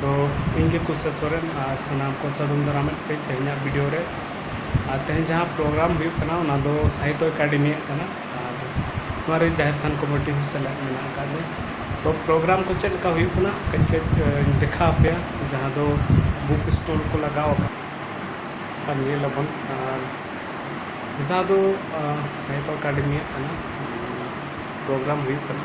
ᱛᱚ ᱤᱧ ᱜᱮ ᱠᱩᱥᱟ ᱥᱚᱨᱮᱱ ᱟᱨ ᱥᱟᱱᱟᱢ ᱠᱚ ᱥᱟᱫᱚᱢ ᱫᱟᱨᱟᱢᱮᱫ ᱠᱟᱹᱡ ᱛᱮᱦᱮᱧᱟᱜ ᱵᱷᱤᱰᱤᱭᱳ ᱨᱮ ᱟᱨ ᱛᱮᱦᱮᱧ ᱡᱟᱦᱟᱸ ᱯᱨᱳᱜᱨᱟᱢ ᱦᱩᱭᱩᱜ ᱠᱟᱱᱟ ᱚᱱᱟ ᱫᱚ ᱥᱟᱦᱤᱛᱚ ᱮᱠᱟᱰᱮᱢᱤᱭᱟᱜ ᱠᱟᱱᱟ ᱟᱨ ᱱᱚᱣᱟ ᱨᱮ ᱡᱟᱦᱮᱨ ᱛᱷᱟᱱ ᱠᱚᱢᱤᱴᱤ ᱦᱚᱸ ᱥᱮᱞᱮᱫ ᱢᱮᱱᱟᱜ ᱟᱠᱟᱫ ᱞᱮᱭᱟ ᱛᱚ ᱯᱨᱳᱜᱨᱟᱢ ᱠᱚ ᱪᱮᱫ ᱞᱮᱠᱟ ᱦᱩᱭᱩᱜ ᱠᱟᱱᱟ ᱠᱟᱹᱡ ᱠᱟᱹᱡ ᱤᱧ ᱫᱮᱠᱷᱟᱣ ᱟᱯᱮᱭᱟ ᱡᱟᱦᱟᱸ ᱫᱚ ᱵᱩᱠ ᱥᱴᱳᱨ ᱠᱚ ᱞᱟᱜᱟᱣ ᱟᱠᱟᱫ ᱟᱨ ᱧᱮᱞ ᱟᱵᱚᱱ ᱟᱨ ᱡᱟᱦᱟᱸ ᱫᱚ ᱥᱟᱦᱤᱛᱚ ᱮᱠᱟᱰᱮᱢᱤᱭᱟᱜ ᱠᱟᱱᱟ ᱯᱨᱳᱜᱨᱟᱢ ᱦᱩᱭᱩᱜ ᱠᱟᱱᱟ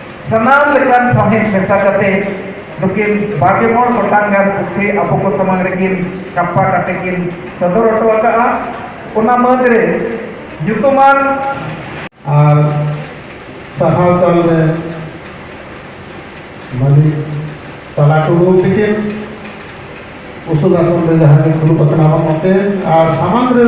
ᱥᱟᱱᱟᱢ ᱞᱮᱠᱟᱱ ᱥᱟᱶᱦᱮᱫ ᱢᱮᱥᱟ ᱠᱟᱛᱮ ᱱᱩᱠᱤᱱ ᱵᱟᱜᱮ ᱢᱚᱬ ᱜᱚᱴᱟᱝ ᱜᱟᱱ ᱯᱩᱛᱷᱤ ᱟᱵᱚ ᱠᱚ ᱥᱟᱢᱟᱝ ᱨᱮᱠᱤᱱ ᱠᱟᱯᱯᱟ ᱠᱟᱛᱮ ᱠᱤᱱ ᱥᱚᱫᱚᱨ ᱦᱚᱴᱚ ᱟᱠᱟᱫᱼᱟ ᱚᱱᱟ ᱢᱟᱹᱫᱽ ᱨᱮ ᱧᱩᱛᱩᱢᱟᱱ ᱟᱨ ᱥᱟᱨᱦᱟᱣ ᱪᱟᱞ ᱨᱮ ᱢᱟᱹᱡᱷᱤ ᱛᱟᱞᱟ ᱴᱩᱰᱩ ᱛᱤᱠᱤᱱ ᱩᱥᱩᱞ ᱟᱥᱚᱱ ᱨᱮ ᱡᱟᱦᱟᱸ ᱜᱮ ᱫᱩᱲᱩᱵ ᱟᱠᱟᱱᱟ ᱚᱱᱟᱛᱮ ᱟᱨ ᱥᱟᱢᱟᱝ ᱨᱮ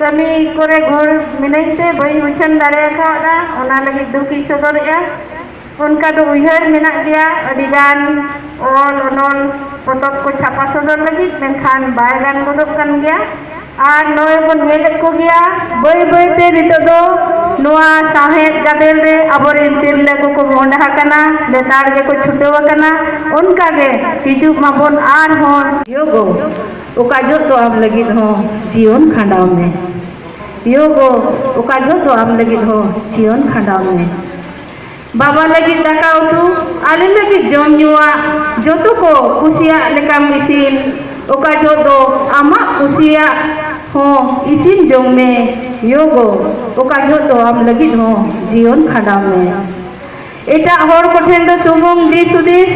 ᱠᱟᱹᱢᱤ ᱠᱚᱨᱮ ᱜᱷᱟᱹᱲ ᱢᱤᱱᱟᱹᱧ ᱛᱮ ᱵᱟᱹᱧ ᱩᱪᱷᱟᱹᱱ ᱫᱟᱲᱮ ᱟᱠᱟᱣᱫᱟ ᱚᱱᱟ ᱞᱟᱹᱜᱤᱫ ᱫᱩᱠ ᱤᱧ ᱥᱚᱫᱚᱨᱮᱜᱼᱟ ᱚᱱᱠᱟ ᱫᱚ ᱩᱭᱦᱟᱹᱨ ᱢᱮᱱᱟᱜ ᱜᱮᱭᱟ ᱟᱹᱰᱤ ᱜᱟᱱ ᱚᱞ ᱚᱱᱚᱞ ᱯᱚᱛᱚᱵ ᱠᱚ ᱪᱷᱟᱯᱟ ᱥᱚᱫᱚᱨ ᱞᱟᱹᱜᱤᱫ ᱢᱮᱱᱠᱷᱟᱱ ᱵᱟᱭ ᱜᱟᱱ ᱜᱚᱫᱚᱜ ᱠᱟᱱ ᱜᱮᱭᱟ ᱟᱨ ᱱᱚᱜᱼᱚᱭ ᱵᱚᱱ ᱧᱮᱞᱮᱫ ᱠᱚ ᱜᱮᱭᱟ ᱵᱟᱹᱭ ᱵᱟᱹᱭ ᱛᱮ ᱱᱤᱛᱚᱜ ᱫᱚ ᱱᱚᱣᱟ ᱥᱟᱶᱦᱮᱫ ᱜᱟᱫᱮᱞ ᱨᱮ ᱟᱵᱚ ᱨᱮᱱ ᱛᱤᱨᱞᱟᱹ ᱠᱚᱠᱚ ᱢᱚᱦᱰᱟ ᱟᱠᱟᱱᱟ ᱞᱮᱛᱟᱲ ᱜᱮᱠᱚ ᱪᱷᱩᱴᱟᱹᱣ ᱟᱠᱟᱱᱟ ᱚᱱᱠᱟ ᱜᱮ ᱦᱤᱡᱩᱜ ᱢᱟᱵᱚᱱ ᱟᱨᱦᱚᱸ ᱡᱳᱜᱚ ᱚᱠᱟ ᱡᱚᱦᱚᱜ ᱫᱚ ᱟᱢ ᱞᱟᱹᱜᱤᱫ ᱦᱚᱸ ᱡᱤᱭᱚᱱ ᱠᱷᱟᱸᱰᱟᱣ ᱢᱮ᱾ ᱭᱳ ᱜᱳ ᱚᱠᱟ ᱡᱚᱦᱚᱜ ᱫᱚ ᱟᱢ ᱞᱟᱹᱜᱤᱫ ᱦᱚᱸ ᱡᱤᱭᱚᱱ ᱠᱷᱟᱸᱰᱟᱣ ᱢᱮ᱾ ᱵᱟᱵᱟ ᱞᱟᱹᱜᱤᱫ ᱫᱟᱠᱟ ᱩᱛᱩ ᱟᱞᱮ ᱞᱟᱹᱜᱤᱫ ᱡᱚᱢ ᱧᱩᱣᱟᱜ ᱡᱚᱛᱚ ᱠᱚ ᱠᱩᱥᱤᱭᱟᱜ ᱞᱮᱠᱟᱢ ᱤᱥᱤᱱ ᱚᱠᱟ ᱡᱚᱦᱚᱜ ᱫᱚ ᱟᱢᱟᱜ ᱠᱩᱥᱤᱭᱟᱜ ᱦᱚᱸ ᱤᱥᱤᱱ ᱡᱚᱝ ᱢᱮ᱾ ᱭᱳ ᱜᱳ ᱚᱠᱟ ᱡᱚᱦᱚᱜ ᱫᱚ ᱟᱢ ᱞᱟᱹᱜᱤᱫ ᱦᱚᱸ ᱡᱤᱭᱚᱱ ᱠᱷᱟᱸᱰᱟᱣ ᱢᱮ᱾ ᱮᱴᱟᱜ ᱦᱚᱲ ᱠᱚ ᱴᱷᱮᱱ ᱫᱚ ᱥᱩᱢᱩᱝ ᱫᱤᱥ ᱦᱩᱫᱤᱥ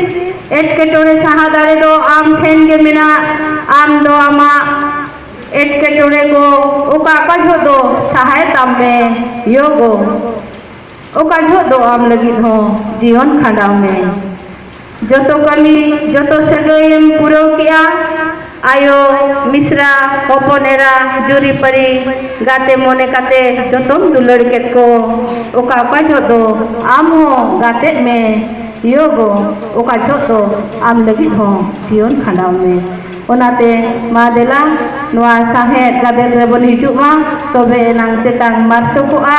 ᱮᱴᱠᱮᱴᱚᱬᱮ ᱥᱟᱦᱟ ᱫᱟᱲᱮ ᱫᱚ ᱟᱢ ᱴᱷᱮᱱ ᱜᱮ ᱢᱮᱱᱟᱜ ᱟᱢ ᱫᱚ ᱟᱢᱟᱜ ᱮᱴᱠᱮᱴᱚᱬᱮ ᱠᱚ ᱚᱠᱟ ᱚᱠᱟ ᱡᱷᱚᱜ ᱫᱚ ᱥᱟᱦᱟᱭ ᱛᱟᱢ ᱢᱮ ᱭᱳᱜᱽ ᱚᱠᱟ ᱡᱷᱚᱜ ᱫᱚ ᱟᱢ ᱞᱟᱹᱜᱤᱫ ᱦᱚᱸ ᱡᱤᱭᱚᱱ ᱠᱷᱟᱸᱰᱟᱣ ᱢᱮ᱾ ᱡᱚᱛᱚ ᱠᱟᱹᱢᱤ ᱡᱚᱛᱚ ᱥᱟᱹᱜᱟᱹᱭ ᱮᱢ ᱯᱩᱨᱟᱹᱣ ᱠᱮᱫᱼᱟ ᱟᱭᱳ, ᱢᱤᱥᱨᱟ, ᱦᱚᱯᱚᱱ ᱮᱨᱟ, ᱡᱩᱨᱤ ᱯᱟᱹᱨᱤ, ᱜᱟᱛᱮ ᱢᱚᱱᱮ ᱠᱟᱛᱮ ᱡᱚᱛᱚᱢ ᱫᱩᱞᱟᱹᱲ ᱠᱮᱫ ᱠᱚ᱾ ᱚᱠᱟ ᱚᱠᱟ ᱡᱷᱚᱜ ᱫᱚ ᱟᱢ ᱦᱚᱸ ᱜᱟᱛᱮᱜ ᱢᱮ ᱭᱳ ᱜᱚ ᱚᱠᱟ ᱡᱷᱚᱜ ᱫᱚ ᱟᱢ ᱞᱟᱹᱜᱤᱫ ᱦᱚᱸ ᱡᱤᱭᱚᱱ ᱠᱷᱟᱸᱰᱟᱣ ᱢᱮ᱾ ᱚᱱᱟᱛᱮ ᱢᱟ ᱫᱮᱞᱟ ᱱᱚᱶᱟ ᱥᱟᱶᱦᱮᱫ ᱜᱟᱫᱮᱞ ᱨᱮᱵᱚᱱ ᱦᱤᱡᱩᱜ ᱢᱟ ᱛᱚᱵᱮ ᱮᱱᱟᱝ ᱛᱮᱛᱟᱝ ᱢᱟᱨᱛᱚᱠᱚᱜᱼᱟ᱾